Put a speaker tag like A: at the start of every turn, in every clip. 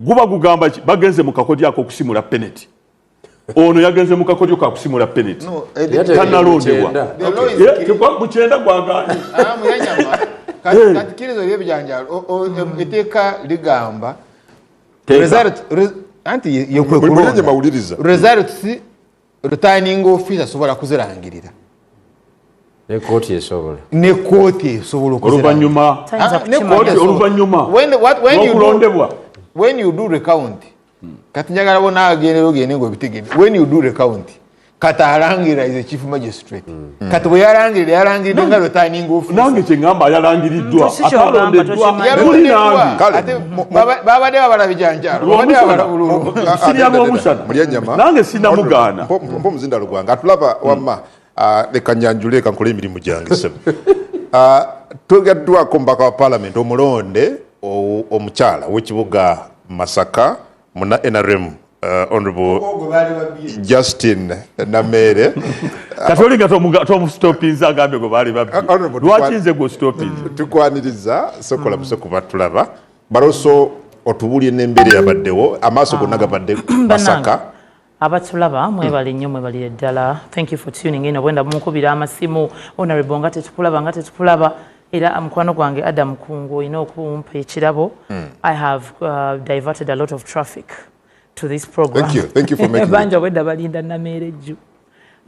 A: guba gugamba ki bagenze mu kakodyo akokusimula peneti ono yagenze mu kakodyo kakusimula peneti tanalondebwa mukyenda gwagaani
B: katikirizo ebyebijanjalo eteeka ligamba anti yekwekulonda results returning office asobola kuzirangirira
C: nekooti esobola nekooti esobola oluvanyuma
A: nokulondebwa when you do
B: recount kati njagala bona agendera ogende ngaobitegede when you do recount kati alangira is a chief magistrate Mm. kati bwe yalangirira yalangiridde nga lwetayininga ofiisi nange kye ngamba
A: yalangiriddwa mm, atalondeddwa muli nange babadde
B: babala bijanjalo babadde babala bululu sirya
A: lwomusana nange sinamugaana mpa omuzinda lugwanga
D: atulaba mm. wamma ah, leka nyanjule eka nkole emirimu gyange sebo ah, twegaddwako omubaka wa palamenti omulonde omukyala w'ekibuga masaka muna nrm uh, honorable justin nameere kati oli
A: nga tomustopinza agambe gwe baali babbi uh, lwaki nze gwe ostopinza mm. tukwaniriza
D: sokola buse kuba tulaba baloso otubulye nembeera yabaddewo amaaso gonna ah. gabadde masaka abatulaba
E: hmm. mwebale nnyo mwebalire ddala thank you for tuning in obwenda bumukubira amasimu honorable nga tetukulaba nga tetukulaba era ah, mukwano gwange adam kungu olina okumpa ekirabo hmm. i have uh, diverted a lot of traffic to this programbanja
D: obwedda balinda
E: nameera ejju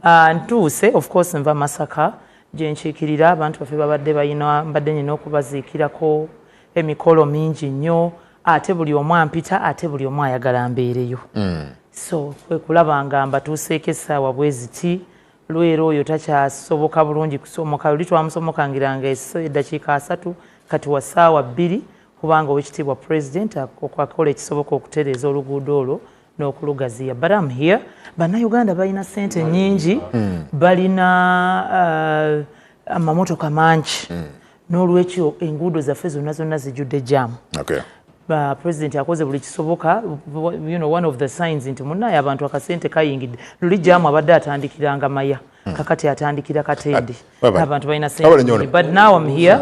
E: ah, ntuuse of course nva masaka gyenkiikirira abantu baffe babadde balina mbadde nyina okubaziikirako emikolo mingi nnyo ate buli omu ampita ate buli omu ayagala mbeereyo mm. so kwekulaba nga mbatuuseeko essaawa bweziti lwera oyo takyasoboka bulungi kusomoka oli twamusomokangiranga eddakiika asatu kati wa ssaawa bbiri kubanga owekitiibwa president akola ekisoboka okutereeza oluguudo olwo n'okulugaziya but am here bannayuganda balina sente nyingi mm. balina uh, amamotoka mangi mm. n'olwekyo enguudo zaffe zonna zonna zijjudde jaamu okay. Uh, president akoze buli kisoboka you know, one of the signs nti munaye abantu akasente kayingidde luli jaamu abadde atandikiranga maya hmm. kakati atandikira katende ah, abantu balina sente but now am here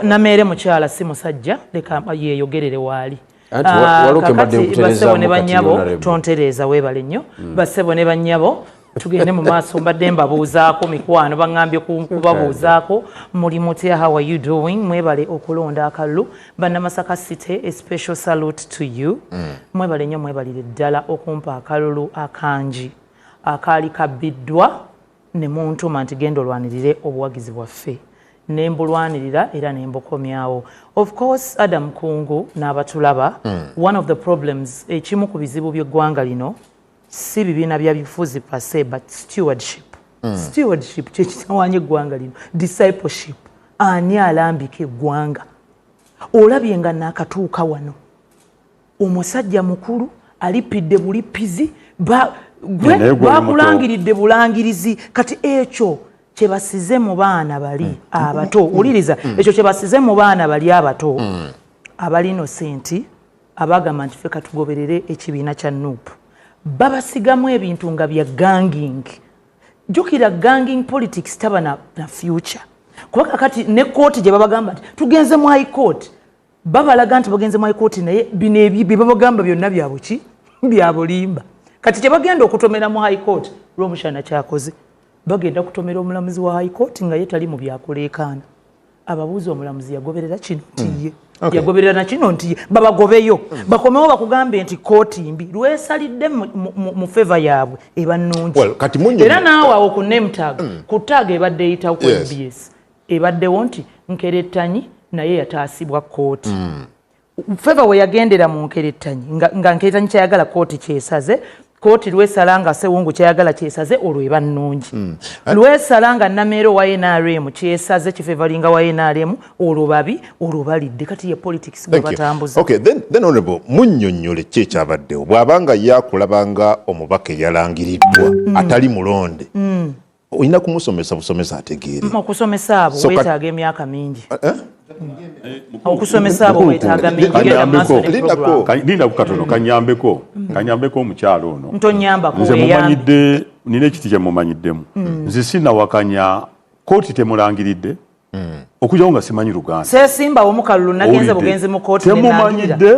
E: nameere mukyala si musajja leka yeyogerere waali Ah, kakati basebo ne banyabo tontereeza weebale nnyo hmm. basebo ne banyabo tugende mu maaso mbadde mbabuuzaako mikwano baŋambye kubabuuzaako muli mutya how are you doing mwebale okulonda akalulu bannamasaka city a special salute to you hmm. mwebale nnyo mwebalire ddala okumpa akalulu akangi akaali kabbiddwa ne muntuma nti genda olwanirire obuwagizi bwaffe ne mbulwanirira era ne mbukomyawo of course adam kungu n'abatulaba mm. one of the problems ekimu ku bizibu by'eggwanga lino si bibiina bya bifuzi pase but stewardship mm. stewardship kyekitawanya eggwanga lino discipleship ani alambika eggwanga olabye nga naakatuuka wano omusajja mukulu alipidde bulippizi bakulangiridde bulangirizi kati ekyo kyebasize mu baana bali mm. abato mm. wuliriza mm. ekyo kyebasize mu baana bali abato abalino senti abagamba nti fe katugoberere ekibiina kya nup babasigamu ebintu nga bya ganging jukira ganging politics taba na, na future kuba kakati ne kooti gyebabagamba nti tugenze mu high court babalaga nti bagenze mu ikooti naye bino ebyo bye babagamba byonna byabuki byabulimba kati kye bagenda okutomera mu high court lwomushana kyakoze bagenda kutomera omulamuzi wa high court nga ye tali mu byakuleekaana ababuuza omulamuzi yagoberera kino nti ye hmm. yagoberera nakino nti ye babagobeyo hmm. bakomewo bakugambe nti kooti mbi lwesalidde mu feva yaabwe eba nnungi era naawe awo ku nemtag hmm. ku taaga ebadde eyitawo ku mbs ebaddewo nti nkerettanyi naye yataasibwa kkooti mm. feva weyagendera mu nkerettanyi nga nkerettanyi kyayagala kkooti kyesaze kkooti lwesala nga sewungu kyayagala kyesaze olwo eba nnungi mm. lwesala nga nameero wa nrm kyesaze kifevalinga wa nrm olwo babi olwo balidde kati ye politics gwebatambuza okay, then, then honorable
D: munyonyole ki ekyabaddewo bwabanga yakulabanga omubaka eyalangiriddwa mm. atali mulonde mm. olina kumusomesa busomesa ategeere okusomesa abo
E: wetaaga emyaka mingi eh, eh? Eh, okusomesa abo wetaaga mingilinda
A: ku katono kanyambeko kanyambeko omukyalo ono ntonyambakonze
E: mumanyidde
A: nina ekiti kyemumanyiddemu mm. nze sinawakanya kooti temulangiridde mm. okujjawo nga simanyi luganda sesimbawo mukalulu
E: nagenze bugenzi mu kooti temumanyidde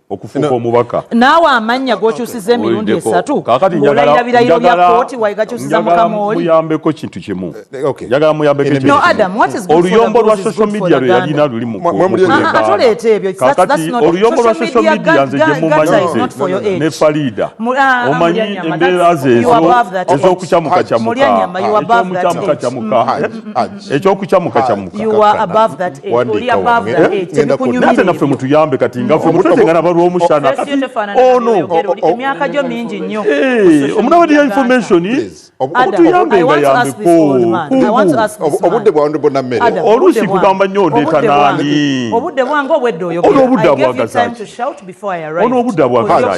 A: okufuuka omubaka naawe amannya
E: gokyusiza emirundi esatu ngaolayira birayiro bya kooti waigakyusiza mukamuyambeko kintu kimu
A: eh, eh, njagala muyambekooluyombo
E: lwa social media
A: lwe yalina luli muatoleeta
E: ebyo kakati oluyombo lwa
A: social media nze gye mumanyize ne faliida ah, omanyi embeera zeezo ez'okucamukacamukaaekyomukyamukacamuka ekyokukyamukakyamukanate
E: naffe mutuyambe
A: kati nga fe mutwetengana abalwomushana ono emyaka gyo
E: mingi nnyo eh, omunabadi ya
A: information mutuyambe nga yambeko
D: obudde bwa ndebo na mmere oluusi kugamba nnyo
A: ndeeta naani obudde bwange obwedde
E: oyogera ono obudde bwagaza ono obudde bwagaza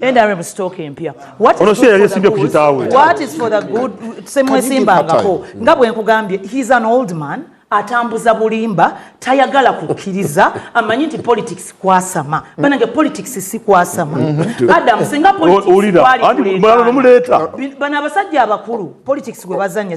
E: NRM stock empya. What is for the good? What is for the good? Semwesimbangako. Nga bwe nkugambye, he's an old man. atambuza bulimba tayagala kukkiriza amanyi nti politics kwasama banange politics si kwasama mm-hmm. adam singa politicsbana
A: abasajja
E: abakulu politics gwe bazanya